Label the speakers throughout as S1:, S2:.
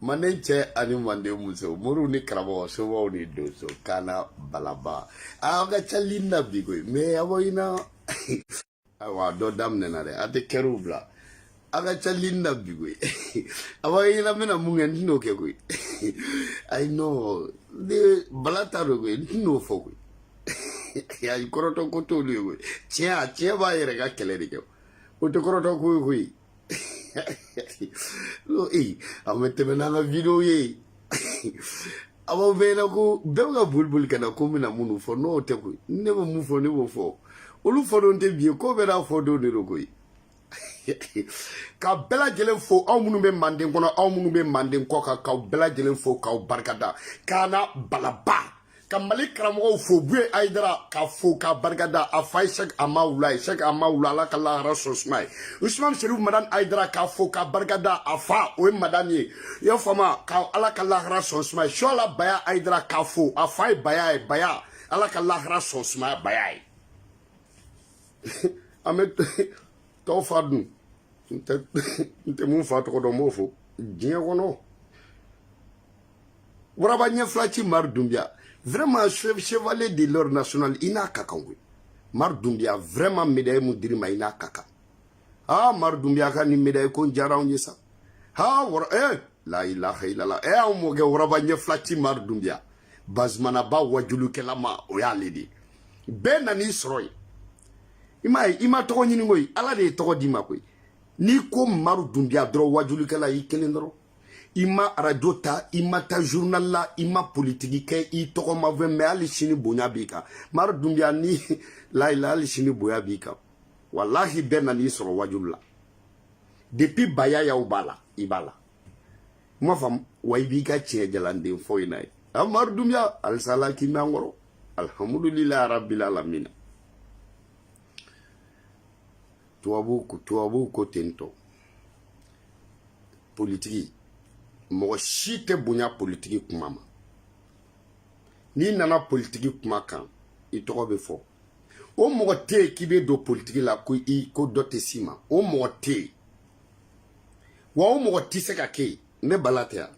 S1: manden cɛ ani manden muso moriw ni karamɔgɔ somaw ni donso kana balaba aw ka ca lin na bi koyi mais a bɔ i na ayiwa dɔ daminɛna dɛ a tɛ kɛriw bila aw ka ca lin na bi koyi a bɔ i na n bɛna mun kɛ n tɛn'o kɛ koyi ayi non ne bala t'a dɔn koyi n tɛn'o fɔ koyi ayi kɔrɔtɔ ko t'olu ye koyi tiɲɛ a tiɲɛ b'a yɛrɛ ka kɛlɛ de kɛ o tɛ kɔrɔtɔ ko ye koyi ee aw bɛ tɛmɛ n'an ka video ye a b'aw bɛɛ ɲɛna ko bɛɛ bɛ ka boli boli ka na ko n bɛna minnu fɔ n'o tɛ koyi ni ne bɛ mun fɔ ne b'o fɔ olu fɔdon tɛ bi ye ko bɛɛ n'a fɔdon de don koyi ka bɛɛ lajɛlen fo aw minnu bɛ manden kɔnɔ aw minnu bɛ manden kɔkan k'aw bɛɛ lajɛlen fo k'aw barikada k'an na balaba ka mali karamɔgɔw fo buye ayidara k'a fo k'a barikada a fa ye sɛk amawula ye sɛk amawula ala ka lahara so suma a ye usman sherif madani ayidara k'a fo k'a barikada a fa o ye madani ye i y'a faamuya ka ala ka lahara so suma a ye suala baya ayidara k'a fo a fa ye baya ye baya ala ka lahara so suma a ye baya ye an bɛ tɔw fa dun n tɛ mun fa tɔgɔ dɔn n b'o fo diɲɛ kɔnɔ waraba ɲɛ fila ci mari dunbiya vraiment chevalier de l'ordre national i n'a ka kan koyi mari dunbiya vraiment médaille mun dir'i ma i n'a ka kan ha mari dunbiya ka nin médaille ko in diyara anw ye sa ha wara eh la ilaha ilala eh anw mɔkɛ waraba ɲɛ fila ci mari dunbiya bazumanaba wajulukɛla ma o y'ale de ye bɛɛ nan'i sɔrɔ yen i m'a ye i ma tɔgɔ ɲini koyi ala de ye tɔgɔ d'i ma koyi n'i ko mari dunbiya dɔrɔn wajulikɛla y'i kelen dɔrɔn i ma arajo ta i ma taa journal la i ma politiki kɛ i tɔgɔ ma fɔ mais hali sini bonya b'i kan mari dunbiya ni layila hali sini bonya b'i kan walahi bɛɛ nan'i sɔrɔ wajulu la depuis bayayaw b'a la i b'a la i m'a faamu wa i b'i ka tiɲɛ jalan de fɔ in na ye mari dunbiya halisa ala k'i mɛɛn an kɔrɔ alhamdulilayi rabbil alamina tubabu tubabu ko ten tɔ politiki mɔgɔ si tɛ bonya politiki kuma ma n'i nana politiki kuma kan i tɔgɔ bɛ fɔ o mɔgɔ tɛ yen k'i bɛ don politiki la ko i ko dɔ tɛ s'i ma o mɔgɔ tɛ yen wa o mɔgɔ tɛ se ka kɛ yen ne bala tɛ yan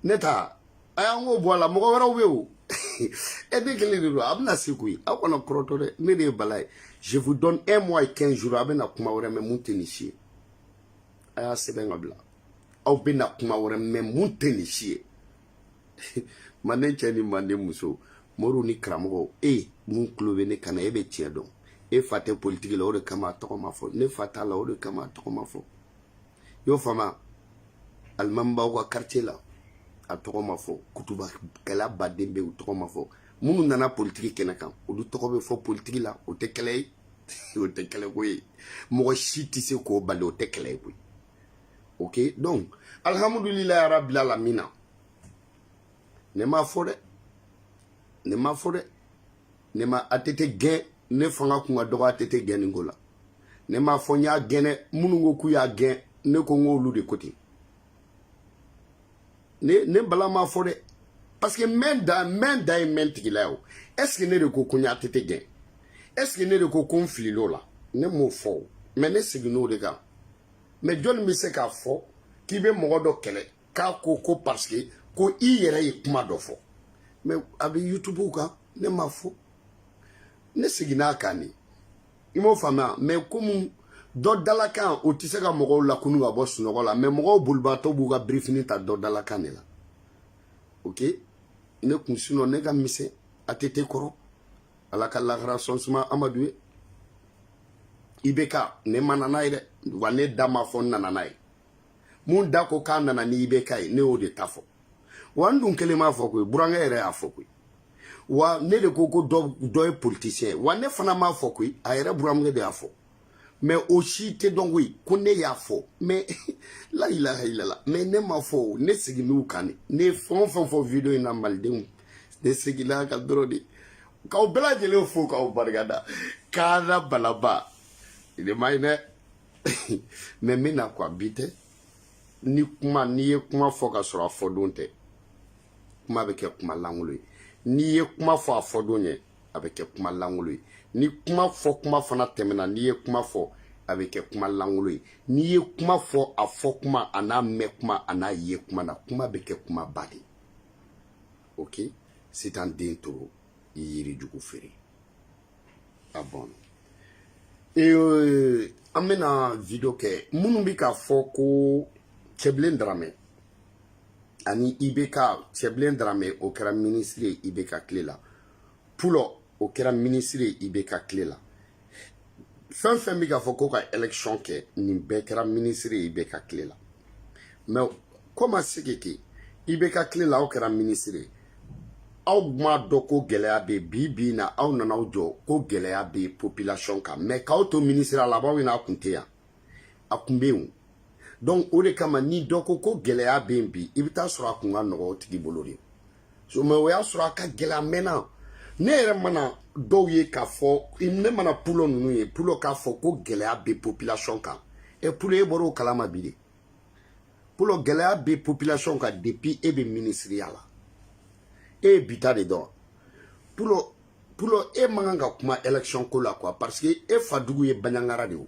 S1: ne ta a y'an k'o bɔ a la mɔgɔ wɛrɛw bɛ o e ne kelen de don a bɛna se koyi aw kana kɔrɔtɔ dɛ ne de ye bala ye je vous donne un mois et quinze jours a bɛna kuma wɛrɛ mɛ mun tɛ nin si ye a y'a sɛbɛn k'a bila aw bɛna kuma wɛrɛ mɛ mun tɛ nin si ye manden cɛ ni manden muso moriw ni karamɔgɔw e mun tulo bɛ ne kan na e bɛ tiɲɛ dɔn e fa tɛ politiki la o de kama a tɔgɔ ma fɔ ne fa t'a la o de kama a tɔgɔ ma fɔ y'o faamuya alimamibaw ka quartier la a tɔgɔ ma fɔ kutuba kɛla baden bɛ u tɔgɔ ma fɔ minnu nana politiki kɛnɛ kan olu tɔgɔ bɛ fɔ politiki la o tɛ kɛlɛ ye o tɛ kɛlɛ ko ye mɔgɔ si tɛ se k'o bali o tɛ kɛlɛ ye koyi ok donc alihamudulilayi arabil alamina ne m'a fɔ dɛ ne m'a fɔ dɛ ne ma att gɛn ne fanga kun ka dɔgɔ att gɛnni ko la ne m'a fɔ n y'a gɛn dɛ minnu ko k'u y'a gɛn ne ko n k'olu de ko ten ne ne bala m'a fɔ dɛ parce que mɛn da mɛn da ye mɛn tigi la ye o est ce que ne de ko ko n ye att gɛn est ce que ne de ko ko n filil'o la ne m'o fɔ o mɛ ne seginn'o de kan mɛ jɔnni bɛ se k'a fɔ k'i bɛ mɔgɔ dɔ kɛlɛ k'a ko ko parce que ko i yɛrɛ ye kuma dɔ fɔ mɛ a bɛ youtube kan ne m'a fɔ ne seginna a kan de i m'o faamuya mɛ komi dɔ dalakan o tɛ se ka mɔgɔw lakunu ka bɔ sunɔgɔ la mɛ mɔgɔw bolibaatɔ b'u ka birifini ta dɔ dalakan de la ok ne kun sinɔ ne ka misɛn att kɔrɔ ala ka lahara sɔn suma amadu ye ibk ne ma na n'a ye dɛ wa ne da m'a fɔ n nana n'a ye min da ko k'a nana ni ibk ye ne y'o de ta fɔ wa n dun kelen m'a fɔ koyi burankɛ yɛrɛ y'a fɔ koyi wa ne de ko ko dɔ ye politisiyɛn wa ne fana m'a fɔ koyi a yɛrɛ burankɛ de y'a fɔ mɛ o si tɛ dɔn koyi ko ne y'a fɔ mɛ la ilaha ilala mɛ ne m'a fɔ o ne segin'u kan de ne ye fɛn o fɛn fɔ video in na malidenw ne seginna a kan dɔrɔn de k'aw bɛɛ lajɛlen fo k'aw barika da k'a la balaba ne ma ye dɛ mɛ n bɛ na quoi bi tɛ ni kuma n'i ye kuma fɔ ka sɔrɔ a fɔ don tɛ kuma bɛ kɛ kuma langolo ye n'i ye kuma fɔ a fɔ don ɲɛ a bɛ kɛ kuma langolo ye ni kuma fɔ kuma fana tɛmɛna n'i ye kuma fɔ a bɛ kɛ kuma langolo ye n'i ye kuma fɔ a fɔ kuma a n'a mɛn kuma a n'a ye kuma na kuma bɛ kɛ kuma ba de ok sitan den toro i yiri jugu feere ah bon an bɛna video kɛ minnu bɛ k'a fɔ ko cɛbilen daramɛ ani ibk cɛbilen daramɛ o kɛra minisiri ye ibk tile la pulɔ o kɛra minisiri ye ibk tile la fɛn fɛn bɛ k'a fɔ ko ka election kɛ nin bɛɛ kɛra minisiri ye ibk tile la mɛ a ko ma se ka kɛ ibk tile la aw kɛra minisiri ye aw m'a dɔn ko gɛlɛya bɛ bi bi in na aw nana aw jɔ ko gɛlɛya bɛ population kan mɛ k'aw to minisiriya la a b'aw ɲɛna a kun tɛ yan a kun bɛ yen donc o de kama ni dɔ ko ko gɛlɛya bɛ yen bi i bɛ taa sɔrɔ a kun ka nɔgɔ o tigi bolo de so mais o y'a sɔrɔ a ka gɛlɛya mɛnna ne yɛrɛ mana dɔw ye k'a fɔ ne mana pulo ninnu ye pulo k'a fɔ ko gɛlɛya bɛ population kan ɛ pulo e bɔra o kalama bi de pulo gɛlɛya bɛ population kan depuis e bɛ minisiriya la e ye bi ta de dɔn pulo pulo e man kan ka kuma élection ko la quoi parce que e fadugu ye baɲangara de ye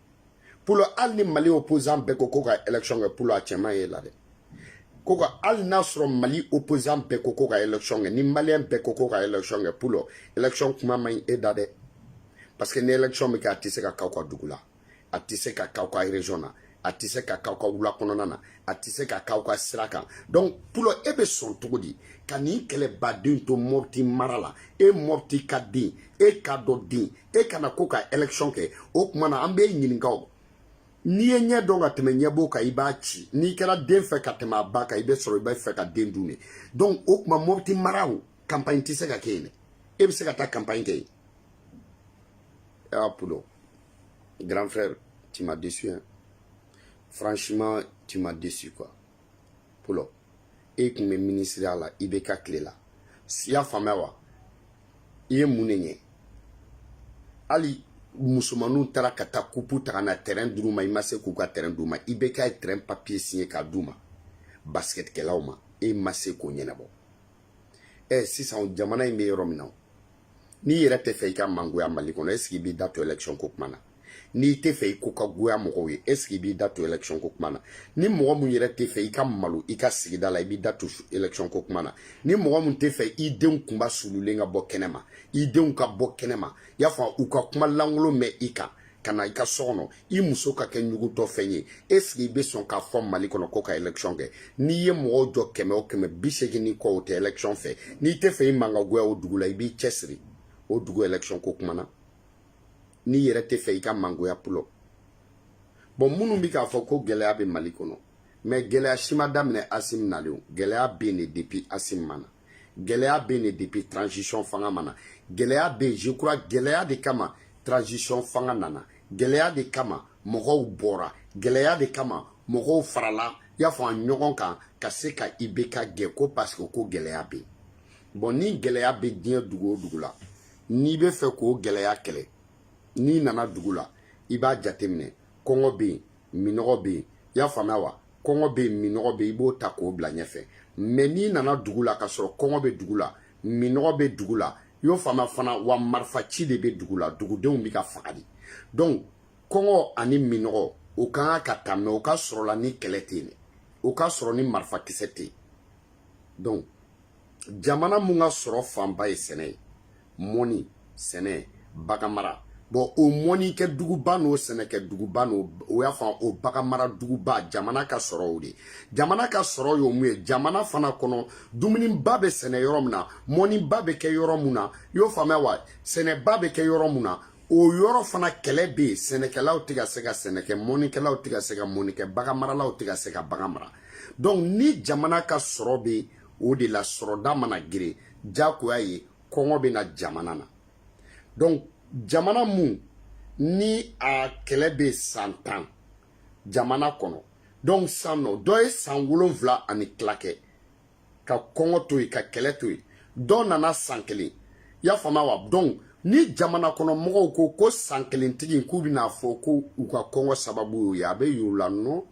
S1: pulo hali ni mali opposant bɛɛ ko ko ka élection kɛ pulo a cɛ man ɲi e la dɛ ko ka hali n'a sɔrɔ mali opposant bɛɛ ko ko ka élection kɛ ni maliyɛn bɛɛ ko ko ka élection kɛ pulo élection kuma man ɲi e da dɛ parce que ni élection bɛ kɛ a tɛ se ka k'aw ka dugu la a tɛ se ka k'aw ka région na a tɛ se ka k'aw ka wula kɔnɔna na a tɛ se ka k'aw ka sira kan donc pulo e bɛ sɔn cogo di ka nin kɛlɛbaden to mɔpti mara la e mɔptika den e kadɔ den e ka na ko ka élection kɛ o kuma na an b'i ɲininka o n'i ye ɲɛ dɔn ka tɛmɛ ɲɛbo kan i b'a ci n'i kɛra den fɛ ka tɛmɛ a ba kan i bɛ sɔrɔ i bɛ fɛ ka den dun de donc o kuma mɔbiti mara o campagne tɛ se ka kɛ yen dɛ e bɛ se ka taa campagne kɛ yen ah pulo grand frère tu m'as déçu hein franchement tu m'as déçu quoi pulo e tun bɛ minisiriya la ibeka tile la i y'a faamu wa i ye mun de ɲɛ hali musomaninw taara ka taa kupu ta ka na tɛrɛn d'u ma i ma se k'u ka tɛrɛn d'u ma ibeka ye tɛrɛn papiye siɲɛ k'a d'u ma basikɛtikɛlaw ma e ma se k'o ɲɛnabɔ ɛ sisan jamana in bɛ yɔrɔ min na n'i yɛrɛ tɛ fɛ i ka mangoya mali kɔnɔ est ce que i b'i da to élection ko kuma na n'i tɛ fɛ i ko ka goya mɔgɔw ye est ce que i b'i da to élection ko kuma na ni mɔgɔ min yɛrɛ tɛ fɛ i ka malo i ka sigida la i b'i da to élection ko kuma na ni mɔgɔ min tɛ fɛ i denw kunba sululen ka bɔ kɛnɛma i denw ka bɔ kɛnɛma i y'a faamu u ka kuma lankolon mɛn i kan ka na i ka so kɔnɔ i muso ka kɛ ɲugutɔ fɛn ye est ce que i bɛ sɔn k'a fɔ mali kɔnɔ ko ka élection kɛ n'i ye mɔgɔw jɔ kɛmɛ o kɛmɛ bi seegin ni kɔ o tɛ élection fɛ n'i tɛ fɛ i man ka goya o dugu la i b'i cɛsiri o dugu élection ko kuma na n'i yɛrɛ tɛ fɛ i ka mangoya pulo bon minnu bɛ k'a fɔ ko gɛlɛya bɛ mali kɔnɔ mais gɛlɛya si ma daminɛ asim nalen o gɛlɛya bɛ yen de depuis asim ma na gɛlɛya bɛ yen de depuis transition fanga ma na gɛlɛya bɛ yen je crois gɛlɛya de kama transition fanga nana gɛlɛya de kama mɔgɔw bɔra gɛlɛya de kama mɔgɔw farala i y'a faamu ɲɔgɔn kan ka se ka ibeka gɛn ko parce que ko gɛlɛya bɛ yen bon ni gɛlɛya bɛ diɲɛ dugu o dugu la n'i bɛ fɛ k'o gɛlɛya kɛlɛ n'i nana dugu la i b'a jateminɛ kɔngɔ bɛ yen minɔgɔ bɛ yen i y'a faamuya wa kɔngɔ bɛ yen minɔgɔ bɛ yen i b'o ta k'o bila ɲɛfɛ mais n'i nana dugu la ka sɔrɔ kɔngɔ bɛ dugu la minɔgɔ bɛ dugu la i y'o faamuya fana wa marifaci de bɛ dugu la dugudenw bɛ ka faga de donc kɔngɔ ani minɔgɔ o kan ka ta mais o ka sɔrɔla ni kɛlɛ tɛ yen o ka sɔrɔ ni marifa kisɛ tɛ yen donc jamana mun ka sɔrɔ fanba ye sɛnɛ ye mɔni sɛnɛ baganmara bon o mɔnikɛ duguba n'o sɛnɛkɛ duguba n'o o y'a fɔ o baganmara duguba jamana ka sɔrɔ o de jamana ka sɔrɔ y'o mun ye jamana fana kɔnɔ dumuniba bɛ sɛnɛ yɔrɔ min na mɔniba bɛ kɛ yɔrɔ mun na i y'o faamuya wa sɛnɛba bɛ kɛ yɔrɔ mun na o yɔrɔ fana kɛlɛ bɛ yen sɛnɛkɛlaw tɛ ka se ka sɛnɛkɛ mɔnikɛlaw tɛ ka se ka mɔnikɛ baganmaralaw tɛ ka se ka bagan mara donc ni jamana ka sɔrɔ bɛ o de la sɔrɔda mana geren jagoya ye kɔngɔ bɛ na jamana na donc jamana mun ni a kɛlɛ bɛ san tan jamana kɔnɔ donc san nɔ dɔ ye san wolonwula ani tila kɛ ka kɔngɔ to yen ka kɛlɛ to yen dɔ nana san kelen y'a faamu wa donc ni jamana kɔnɔ mɔgɔw ko ko san kelen tigi k'u bɛna fɔ ko u ka kɔngɔ sababu y'o ye a bɛ y'u la non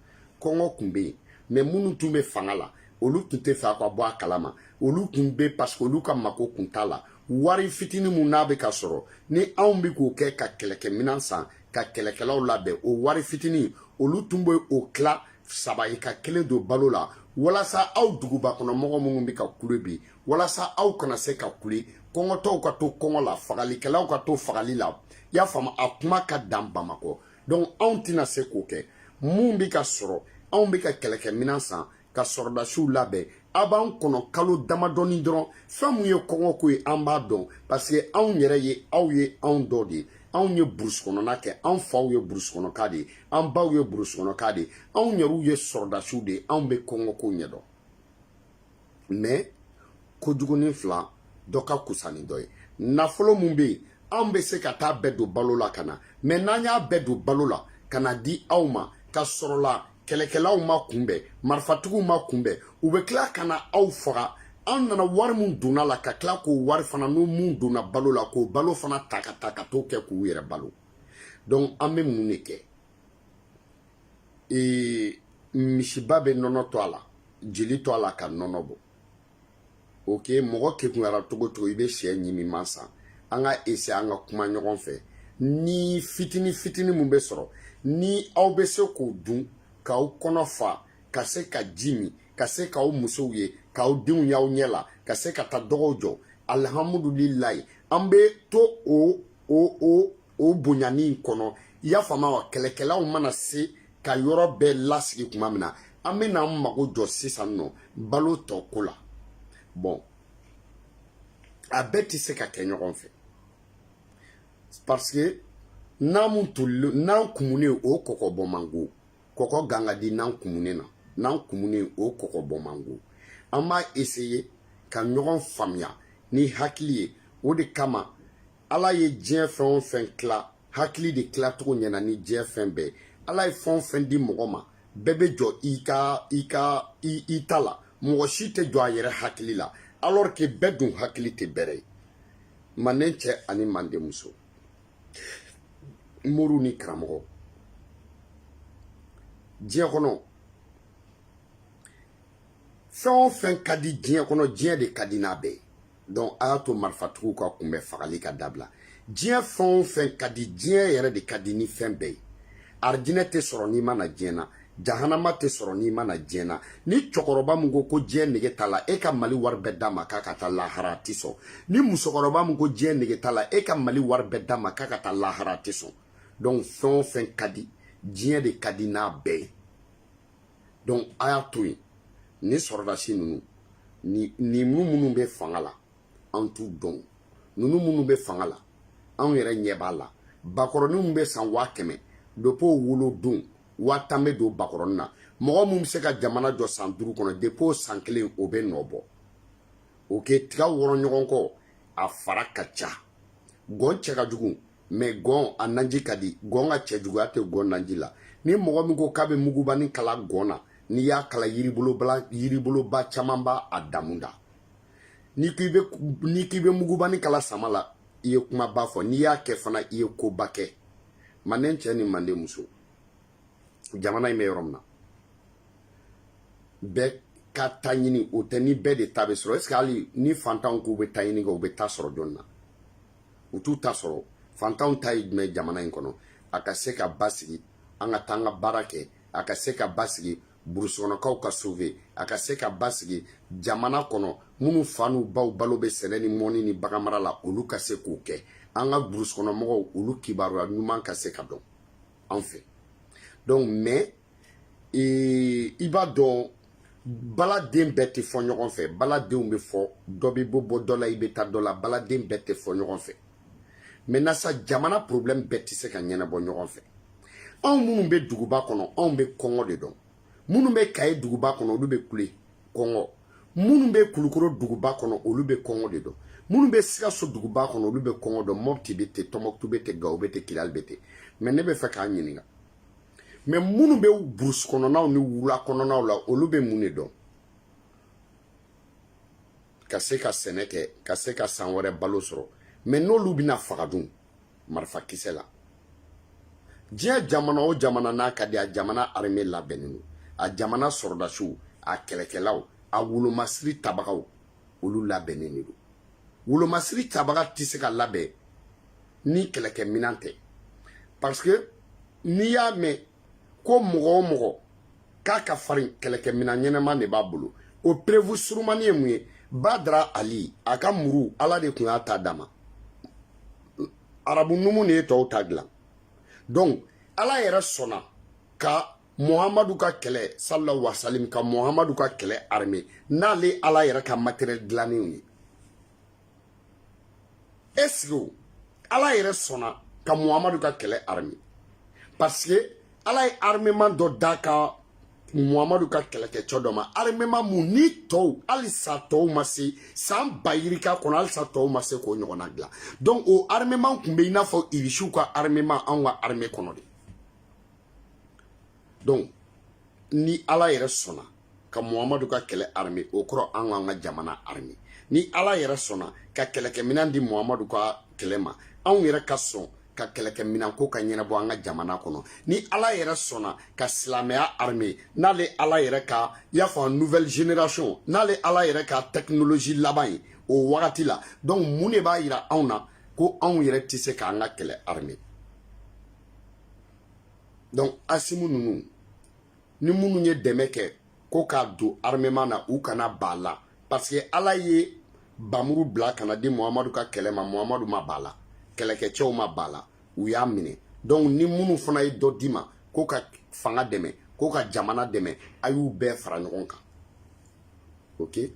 S1: kɔngɔ tun bɛ yen mais minnu tun bɛ fanga la olu tun t'a fɛ a ka bɔ a kalama olu tun bɛ parce que olu ka mako kun t'a la wari fitini mun n'a bɛ ka sɔrɔ ni anw bɛ k'o kɛ ka kɛlɛkɛminɛn san ka kɛlɛkɛlaw labɛn o wari fitini olu tun bɛ o tila saba ye ka kelen don balo la walasa aw duguba kɔnɔ mɔgɔ minnu bɛ ka kule bi walasa aw kana se ka kule kɔngɔtɔw ka to kɔngɔ la fagalikɛlaw ka to fagali la y'a faamu a kuma ka dan bamakɔ donc anw tɛna se k'o kɛ mun bɛ ka sɔrɔ anw bɛ ka kɛlɛkɛminɛn san ka sɔrɔdasiw labɛn a b'an kɔnɔ kalo damadɔni dɔrɔn fɛn mun ye kɔngɔko ye an b'a dɔn parce que anw yɛrɛ ye aw ye anw dɔ de ye anw ye burusi kɔnɔna kɛ anw faw ye burusi kɔnɔka de ye an baw ye burusi kɔnɔka de ye anw yɛrɛw ye sɔrɔdasiw de ye anw bɛ kɔngɔko ɲɛdɔn mais kojugunin fila dɔ ka fisa ni dɔ ye nafolo mun bɛ yen anw bɛ se ka t'a bɛɛ don balo la ka na mais n'an y'a bɛɛ don balo la ka n'a di aw ma ka sɔrɔ la kɛlɛkɛlaw ma kunbɛn marifatigiw ma kunbɛn u bɛ tila ka na aw faga an nana wari min donn'a la ka tila k'o wari fana n'o mun donna balo la k'o balo fana ta ka taa ka t'o kɛ k'u yɛrɛ balo donc an bɛ mun de kɛ ee misiba bɛ nɔnɔ to a la jeli to a la ka nɔnɔ bɔ ok mɔgɔ kekunyara cogo cogo i bɛ shɛ ɲimi ma san an ka essayer an ka kuma ɲɔgɔn fɛ ni fitini fitini min bɛ sɔrɔ ni aw bɛ se k'o dun k'aw kɔnɔ fa ka se ka ji min ka se k'aw musow ye k'aw denw y'aw ɲɛ la ka se ka taa dɔgɔw jɔ alihamudulilayi an bɛ to o o o o bonyani in kɔnɔ i y'a faamu wa kɛlɛkɛlaw mana se ka yɔrɔ bɛɛ lasigi tuma min na an bɛna an mago jɔ sisan nɔ balo tɔ ko la bɔn a bɛɛ tɛ se ka kɛ ɲɔgɔn fɛ parce que na min tolilen na kumunen o kɔkɔ bɔ man go kɔkɔ gan ka di na kumunen na na kumunen o kɔkɔ bɔ man go an b'a essayer ka ɲɔgɔn faamuya ni hakili ye o de kama ala ye diɲɛ fɛn o fɛn tila hakili de tila cogo ɲɛna ni diɲɛ fɛn bɛɛ ala ye fɛn o fɛn di mɔgɔ ma bɛɛ bɛ jɔn i ka i ka i i ta la mɔgɔ si tɛ jɔn a yɛrɛ hakili la alors que bɛɛ dun hakili tɛ bɛrɛ ye manden cɛ ani manden muso moriw ni karamɔgɔ diɲɛ kɔnɔ fɛn o fɛn ka di diɲɛ kɔnɔ diɲɛ de ka di n'a bɛɛ ye donc a y'a to marifatigiw ka kunbɛn fagali ka dabila diɲɛ fɛn o fɛn ka di diɲɛ yɛrɛ de ka di ni fɛn bɛɛ ye arijinɛ tɛ sɔrɔ n'i ma na diɲɛ na jahanama tɛ sɔrɔ n'i ma na diɲɛ na ni cɛkɔrɔba min ko ko diɲɛ nege t'a la e ka mali wari bɛɛ d'a ma k'a ka taa lahara a tɛ sɔn ni musokɔrɔba min ko diɲɛ nege t'a la e ka mali wari bɛɛ d'a ma k'a ka taa lahara a tɛ sɔn donc fɛn o fɛn ka di diɲɛ de ka di n'a bɛɛ ye donc a y'a to yen ni sɔrɔdasi ninnu ni ni minnu bɛ fanga la an t'u dɔn ninnu minnu bɛ fanga la anw yɛrɛ ɲɛ b'a la bakɔrɔninw bɛ san waa kɛmɛ depuis wolo don waa tan bɛ don bakɔrɔnin na mɔgɔ min bɛ se ka jamana jɔ san duuru kɔnɔ depuis san kelen o bɛ nɔ bɔ ok tiga wɔrɔ ɲɔgɔn kɔ a fara ka ca gɔn cɛ ka jugu mais gɔn a naji ka di gɔn ka cɛ juguya tɛ gɔn naji la ni mɔgɔ min ko k'a bɛ mugubani kala gɔn na n'i y'a kala yiriboloba yiriboloba caman b'a a damu da n'i k'i bɛ n'i k'i bɛ mugubani kala sama la i ye kumaba fɔ n'i y'a kɛ fana i ye koba kɛ manden cɛ ni manden muso jamana in bɛ yɔrɔ min na bɛɛ ka ta ɲini o tɛ ni bɛɛ de ta bɛ sɔrɔ est-ce que hali ni fantanw k'u bɛ ta ɲini kɛ u bɛ ta sɔrɔ jɔni na u t'u ta sɔrɔ fantanw ta ye jumɛn jamana in kɔnɔ a ka se ka basigi an ka taa an ka baara kɛ a ka se ka basigi burusukɔnɔkaw ka sauver a ka se ka basigi jamana kɔnɔ minnu fa n'u baw balo bɛ sɛnɛ ni mɔni ni baganmara la olu ka se k'o kɛ an ka burusukɔnɔmɔgɔw olu kibaruya ɲuman ka se ka dɔn anw fɛ donc mais i b'a dɔn baladen bɛɛ tɛ fɔ ɲɔgɔn fɛ baladenw bɛ fɔ dɔ b'i bolo bɔ dɔ la i bɛ taa dɔ la baladen bɛɛ tɛ fɔ ɲɔgɔn fɛ mɛ na sa jamana problème bɛɛ tɛ se ka ɲɛnabɔ ɲɔgɔn fɛ anw minnu bɛ duguba kɔnɔ anw bɛ kɔngɔ de dɔn minnu bɛ kaye duguba kɔnɔ olu bɛ kule kɔngɔ minnu bɛ kulukoro duguba kɔnɔ olu bɛ kɔngɔ de dɔn minnu bɛ sikaso duguba kɔnɔ olu bɛ kɔngɔ dɔn mɔpti bɛ ten tɔmɔkutu bɛ ten gawo bɛ ten kidali bɛ ten mɛ ne bɛ fɛ k'a ɲininka mɛ minnu bɛ burusi kɔnɔnaw ni wula kɔnɔnaw la olu bɛ mun de dɔn ka se ka sɛnɛ kɛ ka se ka san wɛrɛ balo sɔrɔ mɛ n'olu bɛna faga dun marifa kisɛ la diɲɛ jamana o jamana n'a ka di a jamana arime labɛnnen don a jamana sɔrɔdasiw a kɛlɛkɛlaw a wolomasiri tabagaw olu labɛnnen de don wolomasiri tabaga tɛ se ka labɛn ni kɛlɛkɛminɛn tɛ parce que n'i y'a mɛn ko mɔgɔ o mɔgɔ k'a ka farin kɛlɛkɛminɛn ɲɛnama de b'a bolo o preuve surumanin ye mun ye badara ali a ka muru ala de tun y'a ta d'a ma arabu numu de ye tɔw ta dilan donc ala yɛrɛ sɔnna ka muhamadu ka kɛlɛ salila wasalim ka muhamadu ka kɛlɛ arme n'ale ala yɛrɛ ka matériel dilannenw ye est-ce que ala yɛrɛ sɔnna ka muhamadu ka kɛlɛ arme parce que ala ye armement dɔ d'a ka muhamadu ka kɛlɛkɛcɛ dɔ ma armement mun ni tɔw halisa tɔw ma se san ba yirika kɔnɔ halisa tɔw ma se k'o ɲɔgɔnna dilan donc o armement tun bɛ i n'a fɔ irisiw ka armement anw ka arme kɔnɔ de donc ni ala yɛrɛ sɔnna ka muhamadu ka kɛlɛ arme o kɔrɔ an k'an ka jamana arme ni ala yɛrɛ sɔnna ka kɛlɛkɛminan di muhamadu ka kɛlɛ ma anw yɛrɛ ka sɔn ka kɛlɛkɛminan ko ka ɲɛnabɔ an ka jamana kɔnɔ ni ala yɛrɛ sɔnna ka silamɛya arme n'ale ala yɛrɛ ka i n'a fɔ nouvelle génération n'ale ala yɛrɛ ka technologie laban ye o wagati la donc mun de b'a yira anw na ko anw yɛrɛ tɛ se k'an ka kɛlɛ arme donc asimiw ninnu ni minnu ye dɛmɛ kɛ ko k'a don armement na u kana ban a la parce que ala ye bamuru bila ka n'a di muhamadu ka kɛlɛ ma muhamadu ma ban a la kɛlɛkɛcɛw ma ban a la u y'a minɛ donc ni minnu fana ye dɔ d'i ma ko ka fanga dɛmɛ ko ka jamana dɛmɛ a y'u bɛɛ fara ɲɔgɔn kan ok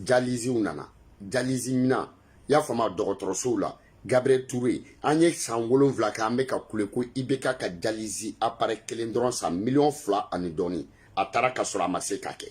S1: jaliziw nana jalizi minan i y'a faamu dɔgɔtɔrɔsow la gabriel ture an ye san wolonfila kɛ an bɛ ka kule ko ibk ka dialyse appareil kelen dɔrɔn san miliyɔn fila ani dɔɔni a taara ka sɔrɔ a ma se k'a kɛ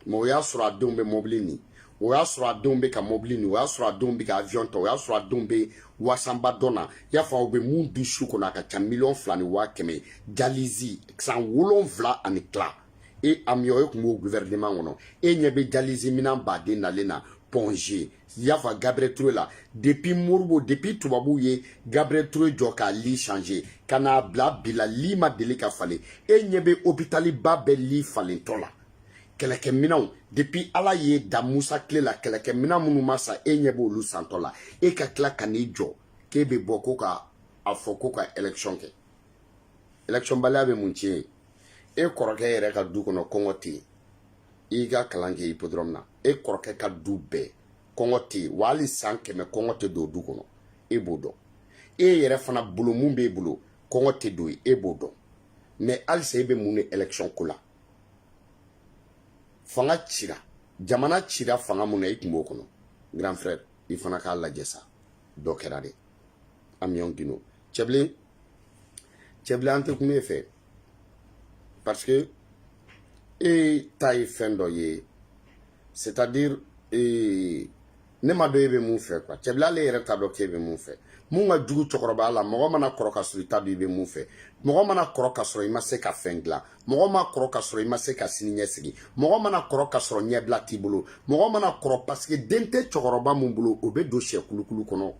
S1: mais o y'a sɔrɔ a denw bɛ mɔbili ni o y'a sɔrɔ a denw bɛ ka mɔbili ni o y'a sɔrɔ a denw bɛ ka avion ta o y'a sɔrɔ a denw bɛ wasanba dɔ na y'a fɔ aw bɛ mun dun su kɔnɔ a ka ca miliyɔn fila ni waa kɛmɛ dialyse san wolonfila ani tila e amion e tun b'o gouvernement kɔnɔ e ɲɛ bɛ dialyse minan baden nalen na point g i y'a fɔ gabriel ture la depuis modibo depuis tubabuw ye gabriel ture jɔ k'a lit changer ka n'a bila bi la lit ma deli ka falen e ɲɛ bɛ hôpital ba bɛɛ lit falentɔ la kɛlɛkɛminɛnw depuis ala ye da musa tile la kɛlɛkɛminɛn minnu ma san e ɲɛ b'olu santɔ la e ka tila ka n'i jɔ k'e bɛ bɔ ko k'a fɔ ko ka élection kɛ election baliya bɛ mun tiɲɛ ye e kɔrɔkɛ yɛrɛ ka du kɔnɔ kɔngɔ tɛ yen i ka kalan kɛ hippodrome na e kɔrɔkɛ ka du bɛɛ kɔngɔ tɛ yen wa hali san kɛmɛ kɔngɔ tɛ don du kɔnɔ e b'o dɔn e yɛrɛ fana bolo mun b'e bolo kɔngɔ tɛ don yen e b'o dɔn mais halisa e bɛ mun ɲini election ko la fanga cira jamana cira fanga mun na i tun b'o kɔnɔ grand frère i fana k'a lajɛ sa dɔ kɛra de amion guindo cɛbilen cɛbilen an tɛ kuma e fɛ parce que e ta ye fɛn dɔ ye c'est à dire ee ne m'a dɔn e bɛ mun fɛ quoi cɛbilen ale yɛrɛ t'a dɔn k'e bɛ mun fɛ mun ka jugu cɛkɔrɔbaya la mɔgɔ mana kɔrɔ ka sɔrɔ i t'a dɔn i bɛ mun fɛ mɔgɔ mana kɔrɔ ka sɔrɔ i ma se ka fɛn dilan mɔgɔ ma kɔrɔ ka sɔrɔ i ma se ka sini ɲɛsigi mɔgɔ mana kɔrɔ ka sɔrɔ ɲɛbila t'i bolo mɔgɔ mana kɔrɔ parce que den tɛ cɛkɔrɔba mun bolo o bɛ don sɛ kulukulu kɔnɔ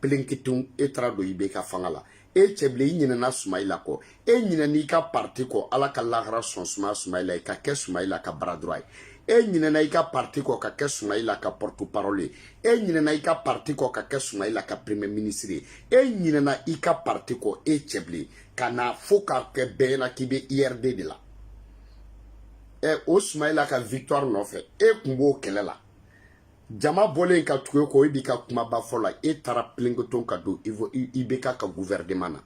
S1: pelenkitun e taara don ibk fanga la e cɛbilen i ɲinɛna sumayila kɔ e ɲinɛna i ka parti kɔ ala ka lahara so sumaya sumayila ye ka kɛ sumayila ka bras droit ye e ɲinɛna i ka parti kɔ ka kɛ sumayila ka porte parole ye e ɲinɛna i ka parti kɔ ka kɛ sumayila ka premier ministre ye e ɲinɛna i ka parti kɔ e cɛbilen ka na fo ka kɛ bɛɛ ɲɛna k'i bɛ urd de la ɛ o sumayila ka victoire nɔfɛ e kun b'o kɛlɛ la jama bɔlen ka tugu e kɔ e b'i ka kumaba fɔ la e taara pelenkoton ka don ibk ka gouvernement na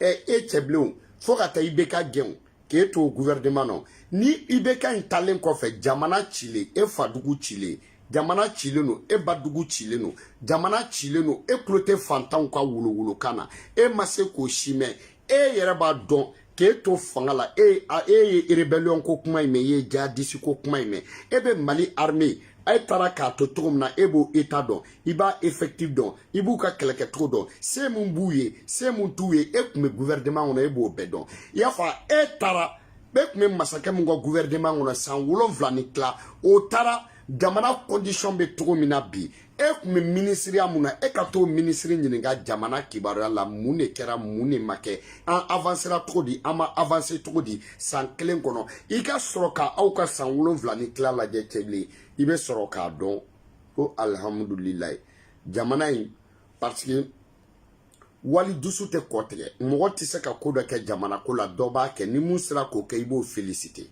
S1: ɛ e cɛbilen fo ka taa ibk gɛn k'e to gouvernement na ni ibk in taalen kɔfɛ jamana cilen e fadugu cilen jamana cilen don e badugu cilen don jamana cilen don e tulo tɛ fantanw ka wolowolokan na e ma se k'o si mɛn e yɛrɛ b'a dɔn k'e to fanga la e e ye rebellion ko kuma in mɛn i ye djihadiste ko kuma in mɛn e bɛ mali armée e taara k'a to cogo min na e b'o état dɔn i b'a effectif dɔn i b'u ka kɛlɛkɛcogo dɔn se min b'u ye se min t'u ye e tun bɛ gouvernement kɔnɔ e b'o bɛɛ dɔn i y'a fɔ e taara e tun bɛ masakɛ min ka gouvernement kɔnɔ san wolonwula ni tila o taara jamana condition bɛ cogo min na bi e tun bɛ minisiriya mun na e ka t'o minisiri ɲininka jamana kibaruya la mun de kɛra mun de ma kɛ an avansera cogo di an ma avanse cogo di san kelen kɔnɔ i ka sɔrɔ ka aw ka san wolonwula ni tila lajɛ cɛbilen i bɛ sɔrɔ k'a dɔn ko alihamudulilayi jamana in parce que wali dusu tɛ kɔ tigɛ mɔgɔ tɛ se ka ko dɔ kɛ jamana ko la dɔ b'a kɛ ni mun sera k'o kɛ i b'o felisite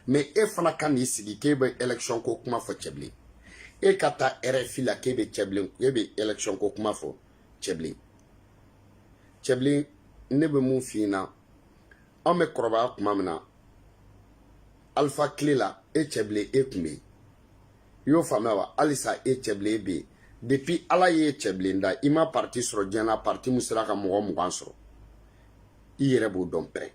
S1: mɛ e fana ka n'i sigi k'e bɛ ɛlɛkisɔn ko kuma fɔ cɛbilen e ka taa rfi la k'e bɛ cɛbilen e bɛ ɛlɛkisɔn ko kuma fɔ cɛbilen cɛbilen ne bɛ mun f'i ɲɛna anw bɛ kɔrɔbaya tuma min na alifa kile la e cɛbilen e tun bɛ yen i y'o faamuya wa halisa e cɛbilen bɛ yen depuis ala y'e cɛbilen da i ma parti sɔrɔ diɲɛ na parti mun sera ka mɔgɔ mugan sɔrɔ i yɛrɛ b'o dɔn pɛrɛ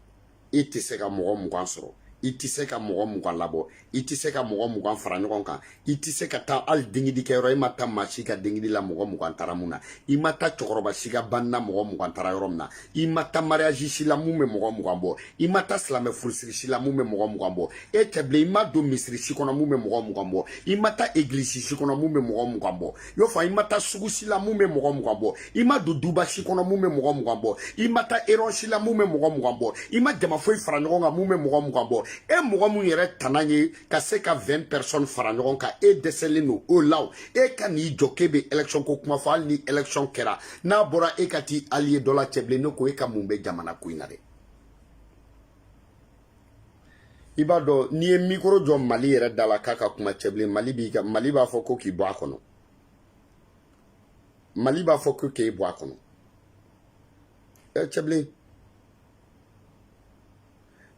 S1: e tɛ se ka mɔgɔ mugan sɔrɔ i tɛ se ka mɔgɔ mugan labɔ i tɛ se ka mɔgɔ mugan fara ɲɔgɔn kan i tɛ se ka taa hali dengidi kɛyɔrɔ i ma taa maa si ka dengidi la mɔgɔ mugan taara mun na i ma taa cɛkɔrɔba si ka banni na mɔgɔ mugan taara yɔrɔ min na i ma taa mariage si la mun bɛ mɔgɔ mugan bɔ i ma taa silamɛ furusiri si la mun bɛ mɔgɔ mugan bɔ e cɛbilen i ma don misiri si kɔnɔ mun bɛ mɔgɔ mugan bɔ i ma taa egilisi si kɔnɔ mun bɛ mɔgɔ mugan bɔ y'o fɔ i ma taa sugu si la mun bɛ mɔgɔ mugan bɔ i ma don duba si kɔnɔ mun bɛ mɔgɔ mugan bɔ i ma taa réunion si la mun bɛ mɔgɔ mugan bɔ i ma jama foyi fara ɲɔgɔn kan mun bɛ mɔgɔ mugan bɔ e mɔgɔ mun yɛrɛ tana ye ka se ka 20 personnes fara ɲɔgɔn kan e dɛsɛlen don o la e ka n'i jɔ k'e bɛ élection ko kuma fɔ hali ni élection kɛra n'a bɔra e ka t'i allié dɔ la cɛbilen ne ko e ka mun bɛ jamana ko in na dɛ i b'a dɔn n'i ye mikoro jɔ mali yɛrɛ da la k'a ka kuma cɛbilen mali b'i ka mali b'a fɔ ko k'i bɔ a kɔnɔ mali b'a fɔ ko k'e bɔ a kɔnɔ ɛ cɛbilen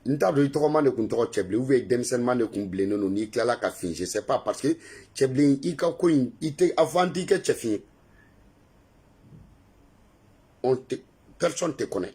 S1: n t'a dɔn i tɔgɔma de kun tɔgɔ cɛbilen ou bien i denmisɛnninma de kun bilennen don n'i tilala ka fin je sais pas parce que cɛbilen i ka ko in i tɛ a fɔ an t'i kɛ cɛfin ye on te personne te connaît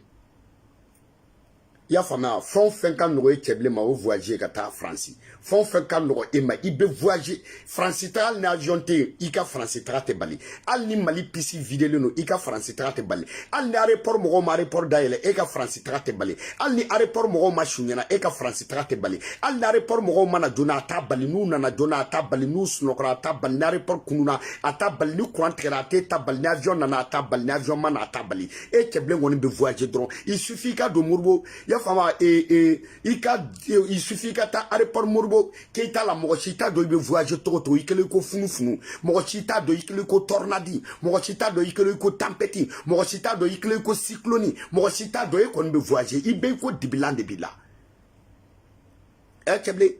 S1: i y'a faamuya fɛn o fɛn ka nɔgɔ e cɛbilen ma o voyage ka taa faransi fɛn o fɛn ka nɔgɔ e ma i bɛ voyage faransi taga hali ni avion tɛ yen i ka faransi taga tɛ bali hali ni mali pisi videlen don i ka faransi taga tɛ bali hali ni aéroport mɔgɔw ma aéroport dayɛlɛ e ka faransi taga tɛ bali hali ni aéroport mɔgɔw ma su ɲɛna e ka faransi taga tɛ bali hali ni aéroport mɔgɔw ma na joona a t'a bali n'u nana joona a t'a bali n'u sunɔgɔra a t'a bali ni aéroport kununa a t'a bali ni courant tigɛra a t'a bali ni avion nana a t'a bali ni avion ma na a t'a bali e cɛbilen kɔni bɛ voyage dɔrɔn il suffit i ka don modibo i y'a faamu ee ee i ka il suffit i ka taa aéroport modibo keita la mɔgɔ si t'a dɔn i bɛ voyage cogo cogo i kɛlen i ko funufunu mɔgɔ si t'a dɔn i kɛlen i ko tornade mɔgɔ si t'a dɔn i kɛlen i ko tempête mɔgɔ si t'a dɔn i kɛlen i ko cyclone mɔgɔ si t'a dɔn e kɔni bɛ voyage i bɛ i ko dibilan de b'i la ɛ cɛbilen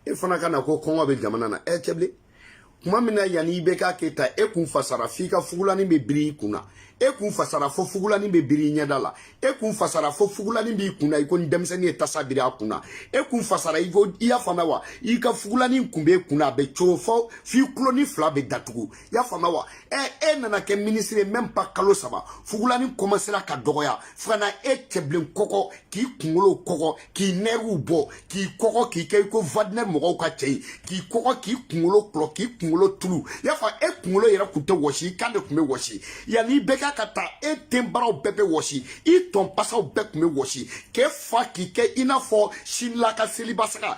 S1: e fana ka na ko kɔngɔ bɛ jamana na ɛ cɛbilen kuma min na yanni IBK k'e ta e kun fasara f'i ka fugulanin bɛ biri i kun na e kun fasara fo fugulanin bɛ biri i ɲɛda la e kun fasara fo fugulanin b'i kun na i ko ni denmisɛnnin ye tasa biri a kun na e kun fasara i ko i y'a faamuya wa i ka fugulanin kun b'e kun na a bɛ cogo fɔ f'i tulonin fila bɛ datugu i y'a faamuya wa ɛ e nana kɛ minisiri ye même pas kalo saba fugulanin kɔmasera ka dɔgɔya fo ka na e cɛbilen kɔkɔ k'i kunkolo kɔkɔ k'i nɛriw bɔ k'i kɔkɔ k'i kɛ i ko wagner mɔgɔw ka cɛ ye k'i kɔkɔ k'i kunkolo kɔlɔ k'i kunkolo tulu i y'a fɔ e kunkolo yɛrɛ kun tɛ wɔsi i kan de kun bɛ wɔsi yanni IBK ka taa e tenbaraw bɛɛ bɛ wɔsi i tɔnpasaw bɛɛ kun bɛ wɔsi k'e fa k'i kɛ i n'a fɔ sinila ka seliba saga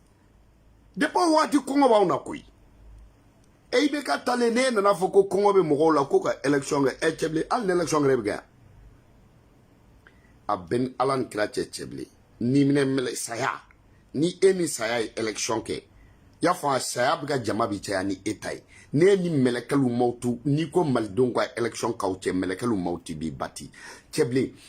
S1: depuis o waati kɔngɔ b'anw na koyi e IBK taalen n'e nana a fɔ ko kɔngɔ bɛ mɔgɔw la ko ka election kɛ ɛ cɛbilen hali ni election kɛra e bɛ kɛ yan a bɛ ni ala ni kira cɛ cɛbilen ni minɛ mɛlɛ saya ni e ni saya ye election kɛ y'a fɔ a saya bɛ ka jama bi caya ni e ta ye n'e ni mɛlɛkɛlu mawutu n'i ko malidenw ka election k'aw cɛ mɛlɛkɛlu mawuti b'i bati cɛbilen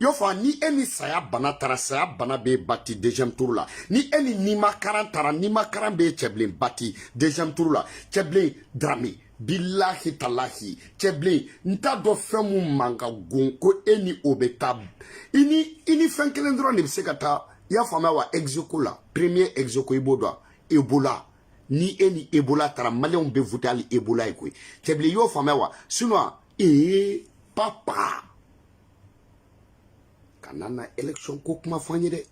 S1: y'a fɔ ni e ni saya bana taara saya bana b'e bati deuxième tour la ni e ni nimakaran taara nimakaran bɛ cɛbilen bati deuxième tour la cɛbilen darame bilahi talahi cɛbilen n t'a dɔn fɛn min ma ka gon ko e ni o bɛ taa i ni i ni fɛn kelen dɔrɔn de bɛ se ka taa i y'a faamuya wa ex aequo la premier ex aequo i b'o dɔn ebola ni e ni ebola taara maliyɛnw bɛ voter hali ebola ye koyi cɛbilen i y'o faamuya wa sinon ee papa. kana na election ko kuma fɔ an ye dɛ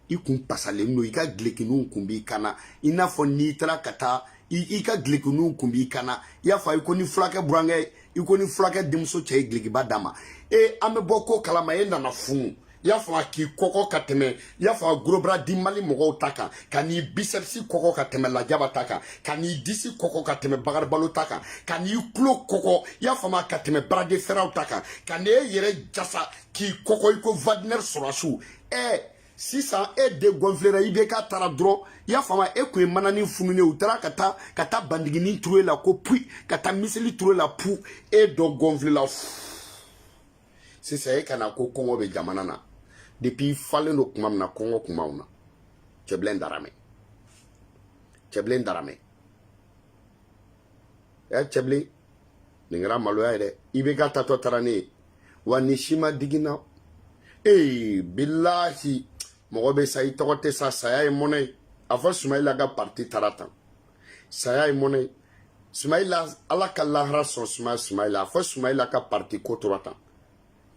S1: i kun pasalen don i ka gilekiniw kun b'i kan na i n'a fɔ n'i taara ka taa i ka gilekiniw kun b'i kan na i y'a fɔ i ko ni fulakɛ burankɛ i ko ni fulakɛ denmuso cɛ ye gilekiba d'a ma e an bɛ bɔ ko kalama e nana funu i y'a fɔ a k'i kɔkɔ ka tɛmɛ i y'a fɔ a gros bras du mali mɔgɔw ta kan ka n'i biceps kɔkɔ ka tɛmɛ lajaba ta kan ka n'i disi kɔkɔ ka tɛmɛ bagaribalo ta kan ka n'i tulo kɔkɔ i y'a faamu ka tɛmɛ bras de ferw ta kan ka n'e yɛrɛ jasa k'i kɔkɔ i ko wagner sɔrɔdasiw ɛ sisan e de gɔnfilera IBK taara dɔrɔn i y'a faamu e kun ye mananin fununen u taara ka taa ka taa bandiginin turu e la ko pui ka taa miseli turu e la pu e degɔnfilela fuu sisan e ka na ko kɔngɔ bɛ jamana na depuis i falen don kuma min na kɔngɔ kun b'anw na cɛbilen darame cɛbilen darame ɛ cɛbilen nin kɛra maloya ye dɛ IBK taatɔ taara n'e ye wa ni si ma diginna ee bilahi mɔgɔ bɛ sa i tɔgɔ tɛ sa saya ye mɔnɛ ye a fɔ sumayila ka parti taara tan saya ye mɔnɛ ye sumayila ala ka lahara sɔn sumayila a fɔ sumayila ka parti ko tora tan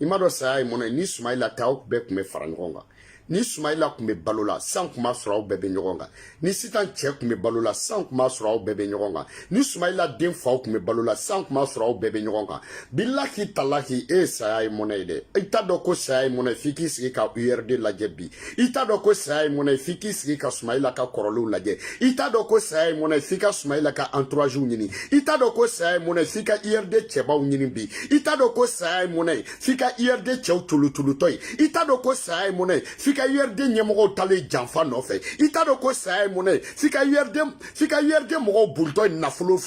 S1: i m'a dɔn saya ye mɔnɛ ye ni sumayila tɛ aw bɛɛ tun bɛ fara ɲɔgɔn kan ni sumayila tun bɛ balo la san tun b'a sɔrɔ aw bɛɛ bɛ ɲɔgɔn kan ni sitan cɛ tun bɛ balo la san tun b'a sɔrɔ aw bɛɛ bɛ ɲɔgɔn kan ni sumayila den fa tun bɛ balo la san tun b'a sɔrɔ aw bɛɛ bɛ ɲɔgɔn kan bilahi talahi e saya ye mɔnɛ ye dɛ i t'a dɔn ko saya ye mɔnɛ f'i k'i sigi ka urd lajɛ bi i t'a dɔn ko saya ye mɔnɛ ye f'i k'i sigi ka sumayila ka kɔrɔlenw lajɛ i t'a dɔn ko saya ye mɔnɛ ye f'i ka sumayila ka entouragew ɲini i t'a dɔn ko saya ye mɔnɛ ye f'i ka urd cɛbaw ɲini bi i t'a dɔn ko saya ye mɔnɛ ye f'i ka urd cɛw tulutulutɔ ye i t'a dɔn ko saya ye mɔnɛ ye f'i ka urd ɲɛmɔgɔw talen janfa nɔfɛ i t'a dɔn ko saya ye mɔnɛ ye f'i ka urd mɔgɔw bolitɔ ye nafolo